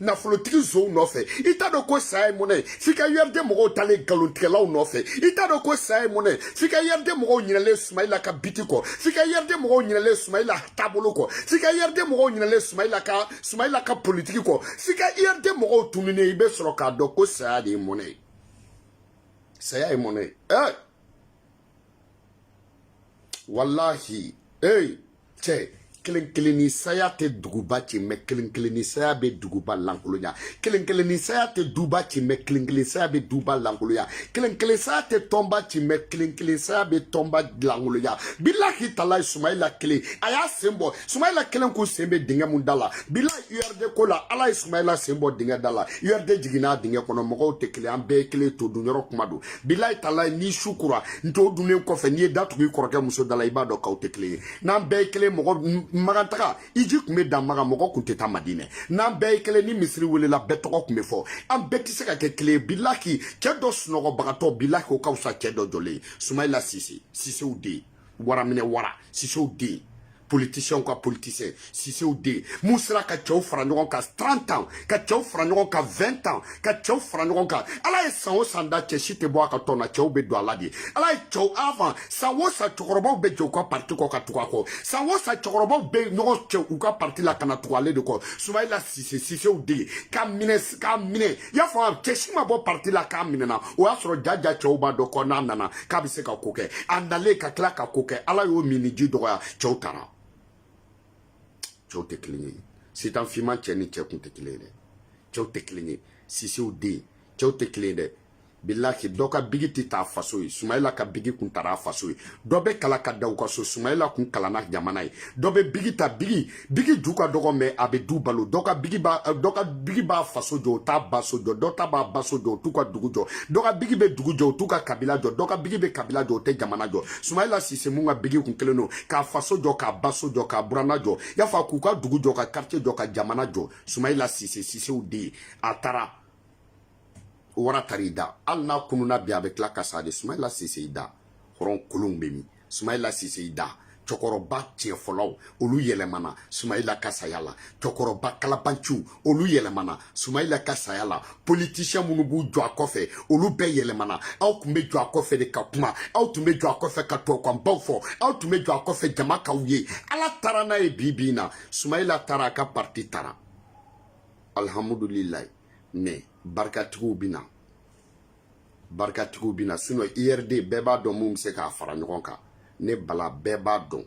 S1: nafolotigi nsonw nɔfɛ i t'a dɔn ko saya ye mɔnɛ ye f'i ka urd mɔgɔw talen nkalontigɛlaw nɔfɛ i t'a dɔn ko saya ye mɔnɛ ye f'i ka urd mɔgɔw ɲinɛlen sumayila ka biti kɔ f'i ka urd mɔgɔw ɲinɛlen sumayila taabolo kɔ f'i ka urd mɔgɔw ɲinɛlen sumayila ka politiki kɔ f'i ka urd mɔgɔw tununen i bɛ sɔrɔ k'a dɔn ko saya de ye mɔnɛ ye saya ye mɔnɛ ye ɛ walahi ee cɛ kelen kelen ni saya tɛ duguba ci mɛ kelen kelen ni saya bɛ duguba lankolonya kelen kelen ni saya tɛ duba ci mɛ kelen kelen saya bɛ duba lankolonya kelen kelen saya tɛ tɔnba ci mɛ kelen kelen saya bɛ tɔnba lankolonya bilahi talahi sumayila kelen a y'a sen bɔ sumayila kelen kun sen bɛ dingɛ min da la bilahi urd ko la ala ye sumayila sen bɔ dingɛ da la urd jiginna a dingɛ kɔnɔ mɔgɔw tɛ kelen an bɛɛ ye kelen to dun yɔrɔ kuma don bilayi talayi ni su kora to dunnen kɔfɛ n'i ye da tugu i kɔrɔkɛ muso da la i b'a dɔn k'aw tɛ kelen ye n'an bɛɛ ye kelen mɔgɔ makan taga hiji tun bɛ dan makan mɔgɔ tun tɛ taa madinɛ n'an bɛɛ ye kelen ni misiri welela bɛɛ tɔgɔ tun bɛ fɔ an bɛɛ tɛ se ka kɛ kelen ye bilahi cɛ dɔ sunɔgɔbagatɔ bilahi o ka fisa cɛ dɔ jɔlen ye sumayila sise sisew den wara minɛ wara sisew den politicien ka politicien sisew den min sera ka cɛw fara ɲɔgɔn kan 30 ans ka cɛw fara ɲɔgɔn kan 20 ans ka cɛw fara ɲɔgɔn kan ala ye san o san da cɛ si tɛ bɔ a ka tɔn na cɛw bɛ don a la de ala ye cɛw avant san o san cɛkɔrɔbaw bɛ jɛn u ka parti kɔ ka tugu a kɔ san o san cɛkɔrɔbaw bɛ ɲɔgɔn cɛ u ka parti la ka na tugu ale de kɔ sumayila sise sisew den ka minɛ k'a minɛ i y'a fɔ a cɛ si ma bɔ parti la k'a minɛna o y'a sɔrɔ ja ja cɛw b'a dɔn ko n'a nana k'a bɛ se ka ko kɛ a nalen ka tila ka ko kɛ ala y'o minniji dɔgɔya cɛw taara cɛw tɛ kelen ye sitan finman cɛ ni cɛ kun tɛ kelen ye dɛ cɛw tɛ kelen ye sisew den cɛw tɛ kelen ye dɛ bilahi dɔ ka bigi tɛ ta faso ye sumayila ka bigi kun tara faso ye dɔ bɛ kalan ka dan u ka so sumayila kun kalanna jamana ye dɔ bɛ bigi ta bigi bigi ju ka dɔgɔ mɛ a bɛ du balo dɔ ka bigi b'a dɔ ka bigi b'a faso jɔ o t'a ba so jɔ dɔ ta b'a ba so jɔ o t'u ka dugu jɔ dɔ ka bigi bɛ dugu jɔ o t'u ka kabila jɔ dɔ ka bigi bɛ kabila jɔ o tɛ jamana jɔ sumayila sise mun ka bigi kun kelen don k'a faso jɔ k'a ba so jɔ k'a buranna jɔ y'a fɔ k'u ka dugu jɔ ka quartier jɔ ka jamana jɔ sumayila sise sisew den ye a taara o wara tari da hali n'a kununna bi a bɛ tila ka sa de sumayila sise i da hɔrɔn kolonw bɛ min sumayila sise i da cɛkɔrɔba tiɲɛfɔlaw olu yɛlɛmana sumayila ka saya la cɛkɔrɔba kalabanciw olu yɛlɛmana sumayila ka saya la politisiɲɛ minnu b'u jɔ a kɔfɛ olu bɛɛ yɛlɛmana aw tun bɛ jɔ a kɔfɛ de ka kuma aw tun bɛ jɔ a kɔfɛ ka tubabukanbaw fɔ aw tun bɛ jɔ a kɔfɛ jama k'aw ye ala taara n'a ye bi bi in na sumayila taara a ka parti taara alihamudulilayi mɛ barikatigiw bɛ na barikatigiw bɛ na sinɔn urd bɛɛ b'a dɔn mun bɛ se k'a fara ɲɔgɔn kan ne bala bɛɛ b'a dɔn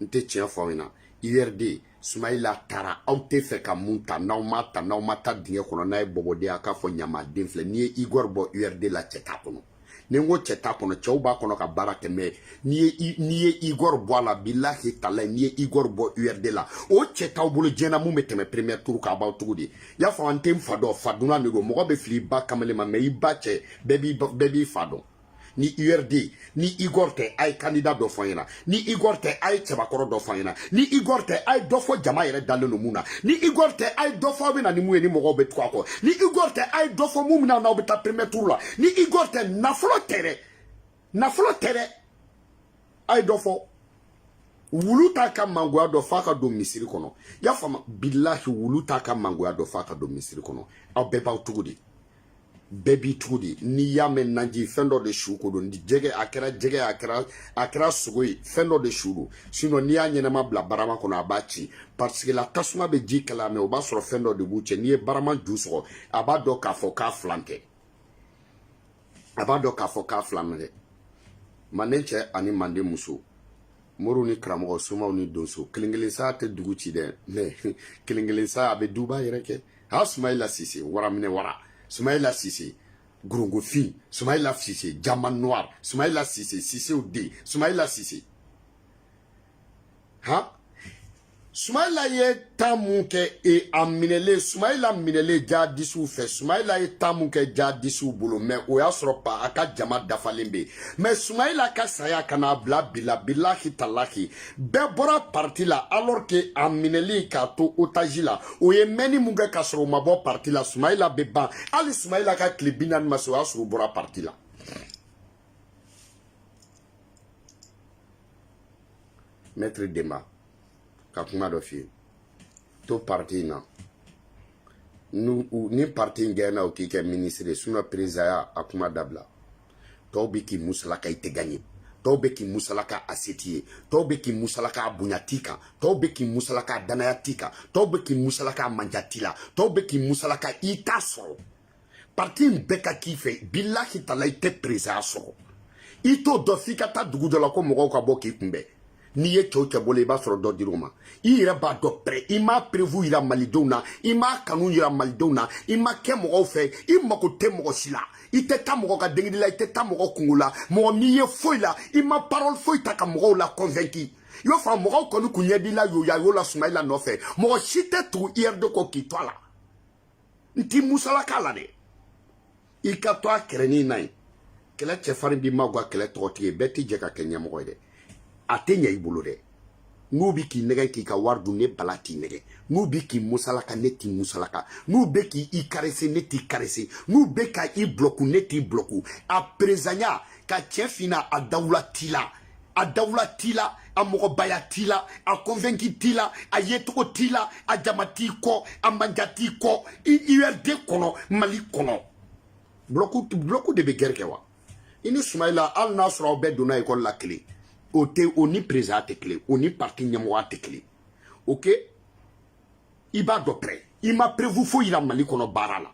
S1: n tɛ tiɲɛ fɔ aw ɲɛna urd sumayila taara aw tɛ fɛ ka mun ta n'aw ma ta n'aw ma ta dingɛ kɔnɔ n'a ye bɔbɔden a k'a fɔ ɲamaden filɛ n'i ye igor bɔ urd la cɛ t'a kɔnɔ ni n ko cɛ t'a kɔnɔ cɛw b'a kɔnɔ ka baara kɛ mɛ n'i ye n'i ye igor bɔ a la bilahi talahi n'i ye igor bɔ urd la o cɛ t'aw bolo diɲɛ na mun bɛ tɛmɛ premier tour k'a b'aw tugu de y'a fɔ an tɛ n fa dɔn fa dunan de don mɔgɔ bɛ fili i ba kamalen ma mɛ i ba cɛ bɛɛ b'i bɛɛ b'i fa dɔn ni urd ni igor tɛ a ye kandida dɔ fɔ an ɲɛna ni igor tɛ a ye cɛbakɔrɔ dɔ fɔ an ɲɛna ni igor tɛ a ye dɔ fɔ jama yɛrɛ dalen don mun na ni igor tɛ a ye dɔ fɔ aw bɛ na ni mun ye ni mɔgɔw bɛ tugu a kɔ ni igor tɛ a ye dɔ fɔ mun bɛna n'aw bɛ taa premier tour la ni igor tɛ nafolo tɛ dɛ nafolo tɛ dɛ a ye dɔ fɔ wulu t'a ka mangoya dɔn f'a ka don misiri kɔnɔ y'a faamu bilahi wulu t'a ka mangoya dɔn f'a ka don misiri kɔnɔ aw bɛɛ b'aw tugu de bɛɛ b'i tugu de n'i y'a mɛn naji fɛn dɔ de su ko don jɛgɛ a kɛra jɛgɛ a kɛra a kɛra sogo ye fɛn dɔ de su don sinɔn n'i y'a ɲɛnama bila barama kɔnɔ a b'a ci pariseke la tasuma bɛ ji kalaya mɛ o b'a sɔrɔ fɛn dɔ de b'u cɛ n'i ye barama ju sɔgɔ a b'a dɔn k'a fɔ k'a filan tɛ a b'a dɔn k'a fɔ k'a filan tɛ manden cɛ ani manden muso moriw ni karamɔgɔ somaw ni donso kelen kelen sa tɛ dugu ci dɛ mɛ kelen kelen sa a bɛ duba yɛrɛkɛ ha sumayila sise waraminɛ wara sumayila sise ngɔrɔngɔfin sumayila sise diamant noir sumayila sise sisew den sumayila sise ha sumayila ye temps mun kɛ e a minɛlen sumayila minɛlen jaadisiw fɛ sumayila ye temps mun kɛ jaadisiw bolo mɛ o y'a sɔrɔ pa a ka jama dafalen bɛ mɛ sumayila ka saya ka n'a bila bila bilahi talahi bɛɛ bɔra parti la alors que a minɛli k'a to otage la o ye mɛnni mun kɛ k'a sɔrɔ o ma bɔ parti la sumayila bɛ ban hali sumayila ka tile bi naani ma se o y'a sɔrɔ o bɔra parti la maître denba ka kuma dɔ f'i ye to parti in na ni parti in gaɲena o k'i kɛ ministre ye sinon perezaya a kuma dabila tɔw bɛ k'i musalaka i tɛ gaɲe tɔw bɛ k'i musalaka a se t'i ye tɔw bɛ k'i musalaka a bonya t'i kan tɔw bɛ k'i musalaka a danaya t'i kan tɔw bɛ k'i musalaka a manja t'i la tɔw bɛ k'i musalaka i t'a sɔrɔ parti in bɛɛ ka k'i fɛ bilahi tala i tɛ perezaya sɔrɔ i t'o dɔn f'i ka taa dugu dɔ la ko mɔgɔw ka bɔ k'i kunbɛn n'i ye cɛ o cɛ bɔlen i b'a sɔrɔ dɔ dir'u ma i yɛrɛ b'a dɔn pɛrɛ i m'a perewu yira malidenw na i m'a kanu yira malidenw na i ma kɛ mɔgɔw fɛ i mako tɛ mɔgɔ si la i tɛ taa mɔgɔ ka denkundi la i tɛ taa mɔgɔ kunko la mɔgɔ m'i ye foyi la i ma parole foyi ta ka mɔgɔw la convaincu i b'a fɔ mɔgɔw kɔni kun ɲɛ b'i la yoyayo la sumayila nɔfɛ mɔgɔ si tɛ tugu urd kɔ k'i to a la n t'i musalaka la dɛ i ka to a kɛrɛnin na yen kɛlɛ cɛfarin b'i magan kɛlɛ tɔgɔtigi ye bɛɛ tɛ jɛ ka kɛ ɲɛmɔgɔ ye dɛ a tɛ ɲɛ i bolo dɛ n'u bi k'i nɛgɛ k'i ka wari dun ne bala t'i nɛgɛ n'u bi k'i musalaka ne t'i musalaka n'u bɛ k'i i karese ne t'i karese n'u bɛ ka i bulɔku ne t'i bulɔku a perezanya ka tiɲɛ f'i ɲɛna a dawula t'i la a dawula t'i la a mɔgɔbaya t'i la a convaincu t'i la a yecogo t'i la a jama t'i kɔ a manja t'i kɔ urd kɔnɔ mali kɔnɔ bloku de bɛ gɛrɛ kɛ wa i ni sumayila hali n'a sɔrɔ aw bɛɛ donna ekɔli la kelen o ni perezanya tɛ kelen o ni parti ɲɛmɔgɔya tɛ kelen ok i b'a dɔn pɛrɛ i ma perewu foyi yira mali kɔnɔ baara la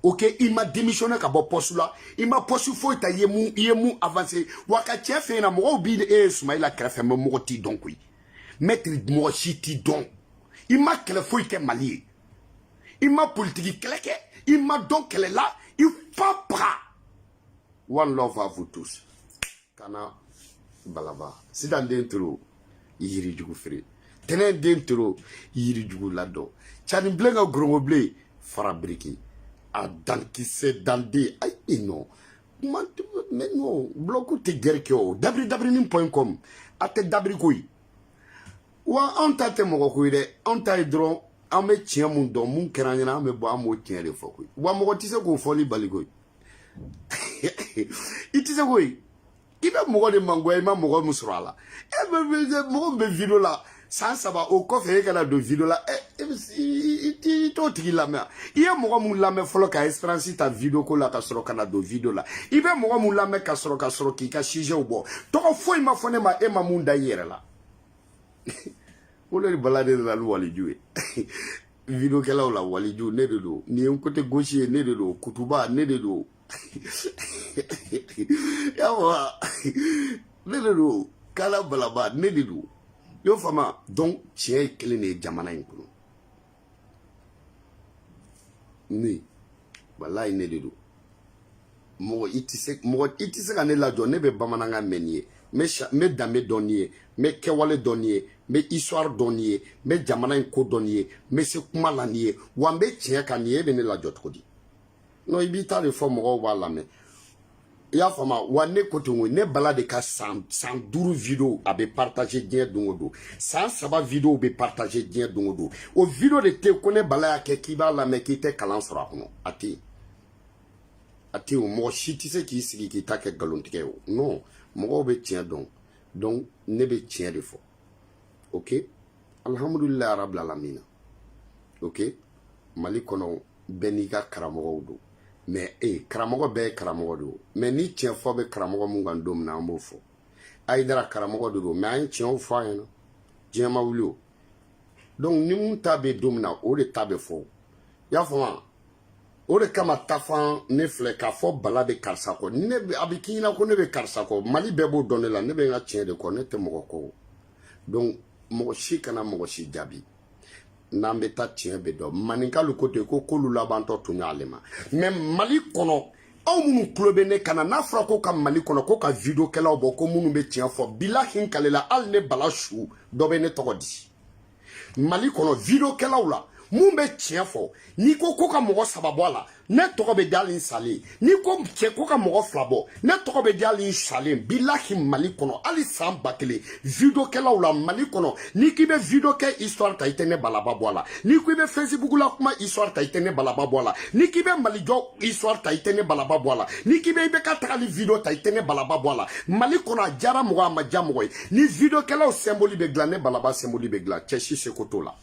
S1: ok i ma démissionné ka bɔ poste la i ma poste foyi ta i ye mun i ye mun avancé wa ka tiɲɛ f'i ɲɛna mɔgɔw b'e ye sumayila kɛrɛfɛ mais mɔgɔ t'i dɔn koyi maître mɔgɔ si t'i dɔn i ma kɛlɛ foyi kɛ mali ye i ma politiki kɛlɛ kɛ i ma dɔn kɛlɛ la i fa paga one love à vous tous kana balaba sitan den toro yiri jugu feere tɛnɛn den toro yiri jugu ladɔn cani bilen ka ngɔrɔngɔ bilen fara biriki a dankisɛ dande ayi e nɔ kuma ne nɔ bulɔku tɛ gɛrɛ kɛ o dabiri dabiri ni pɔn kɔm a tɛ dabiri ko ye wa anw ta tɛ mɔgɔ ko ye dɛ anw ta ye dɔrɔn an bɛ tiɲɛ mun dɔn mun kɛra an ɲɛna an bɛ bɔ an b'o tiɲɛ de fɔ koyi wa mɔgɔ tɛ se k'o fɔli bali koyi i tɛ se koyi i bɛ mɔgɔ de mangoya i ma mɔgɔ min sɔrɔ a la e bɛ mɔgɔ min bɛ video la san saba o kɔfɛ e ka na don video la ɛ e bɛ i t'o tigi lamɛn i ye mɔgɔ min lamɛn fɔlɔ ka expérience ta video ko la ka sɔrɔ ka na don video la i bɛ mɔgɔ min lamɛn ka sɔrɔ ka sɔrɔ k'i ka sujɛw bɔ tɔgɔ foyi ma fɔ ne ma e ma mun da i yɛrɛ la wolo ne bala de nana ni waliju ye videokɛlaw la waliju ne de don nin ye n côté gauche ye ne de don kutuba ne de don yawa ne de don kala balaba ne de don y'o faamu donc tiɲɛ ye kelen de ye jamana in kɔnɔ ne walayi ne de don mɔgɔ i tɛ se mɔgɔ i tɛ se ka ne lajɔ ne bɛ bamanankan mɛn n'i ye n bɛ danbe dɔn n'i ye n bɛ kɛwale dɔn n'i ye n bɛ histoire dɔn n'i ye n bɛ jamana in ko dɔn n'i ye n bɛ se kuma la n'i ye wa n bɛ tiɲɛ kan n'i ye e bɛ ne lajɔ cogo di non i b'i ta de fɔ mɔgɔw b'a lamɛn i y'a faamu wa ne ko ten ko ne bala de ka san san duuru video a bɛ partage diɲɛ don o don san saba video bɛ partage diɲɛ don o don o video de tɛ ko ne bala y'a kɛ k'i b'a lamɛn k'i tɛ kalan sɔrɔ a kɔnɔ a tɛ yen a tɛ o mɔgɔ si tɛ se k'i sigi k'i ta kɛ nkalontigɛ ye o non mɔgɔw bɛ tiɲɛ dɔn donc ne bɛ tiɲɛ de fɔ ok alihamudulilayi rabil alamina ok mali kɔnɔ bɛɛ n'i ka karamɔgɔw don mais e eh, karamɔgɔ bɛɛ ye karamɔgɔ de o mais ni tiɲɛ fɔ bɛ karamɔgɔ mun kan don min na an b'o fɔ ayidara karamɔgɔ de don mais an ye tiɲɛw fɔ a ɲɛna diɲɛ ma wuli o donc ni mun ta bɛ don min na o de ta bɛ fɔ o y'a faamu wa o de kama tafan ne filɛ k'a fɔ bala bɛ karisa kɔ ne a bɛ k'i ɲɛna ko ne bɛ karisa kɔ mali bɛɛ b'o dɔn ne la ne bɛ n ka tiɲɛ de kɔ ne tɛ mɔgɔ kɔ donc mɔgɔ si kana mɔgɔ si jaabi n'an bɛ taa tiɲɛ bɛ dɔn maninkalu ko ten ko kolu labantɔ tuɲa le ma mais mali kɔnɔ aw minnu tulo bɛ ne kan na n'a fɔra ko ka mali kɔnɔ ko ka videokɛlaw bɔ ko minnu bɛ tiɲɛ fɔ bilahi n kalela hali ne bala su dɔ bɛ ne tɔgɔ di mali kɔnɔ videokɛlaw la min bɛ tiɲɛ fɔ n'i ko ko ka mɔgɔ saba bɔ a la ne tɔgɔ bɛ di hali n salen n'i ko cɛ ko ka mɔgɔ fila bɔ ne tɔgɔ bɛ di hali n salen bilahi mali kɔnɔ hali san ba kelen videokɛlaw la mali kɔnɔ n'i k'i bɛ videokɛ histoire ta i tɛ ne balaba bɔ a la n'i ko i bɛ facebook la kuma histoire ta i tɛ ne balaba bɔ a la n'i k'i bɛ mali jɔ histoire ta i tɛ ne balaba bɔ a la n'i k'i bɛ i bɛ ka tagali video ta i tɛ ne balaba bɔ a la mali kɔnɔ a diyara mɔgɔ a ma diya mɔgɔ ye ni videokɛlaw symbole bɛ dilan ne balaba symbole bɛ dilan cɛ si seko t'o la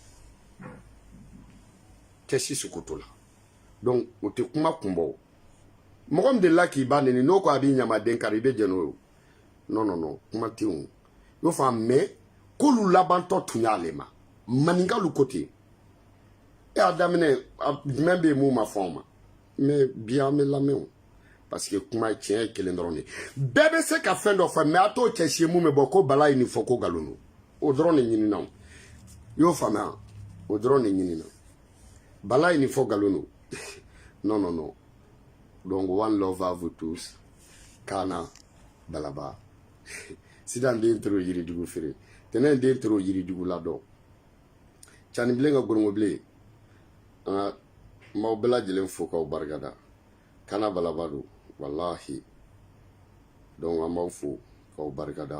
S1: cɛ si seko t'o la donc o tɛ kuma kunbɔ o mɔgɔ min delila k'i ba neni n'o ko a b'i ɲamaden kari i bɛ jɛn n'o ye non non non kuma tɛ o y'o fɔ mais kolu labantɔ tuɲa le ma maninkalu ko ten e y'a daminɛ jumɛn bɛ yen mun ma fɔ anw ma mais bi an bɛ lamɛn o parce que kuma tiɲɛ ye kelen dɔrɔn de bɛɛ bɛ se ka fɛn dɔ fɔ mais a t'o cɛ si ye min bɛ bɔ ko bala ye nin fɔ ko nkalon don o dɔrɔn de ɲinina o y'o faamuya o dɔrɔn de ɲinina bala ye nin fɔ nkalon don non non non donc one love à vous tous kana balaba sitan den toro yirijugu feere tɛnɛ den toro yirijugu ladɔn cani bilen ka ngɔrɔngɔ bilen an b'aw bɛɛ lajɛlen fo k'aw barikada kana balaba don walahi donc an b'aw fo k'aw barikada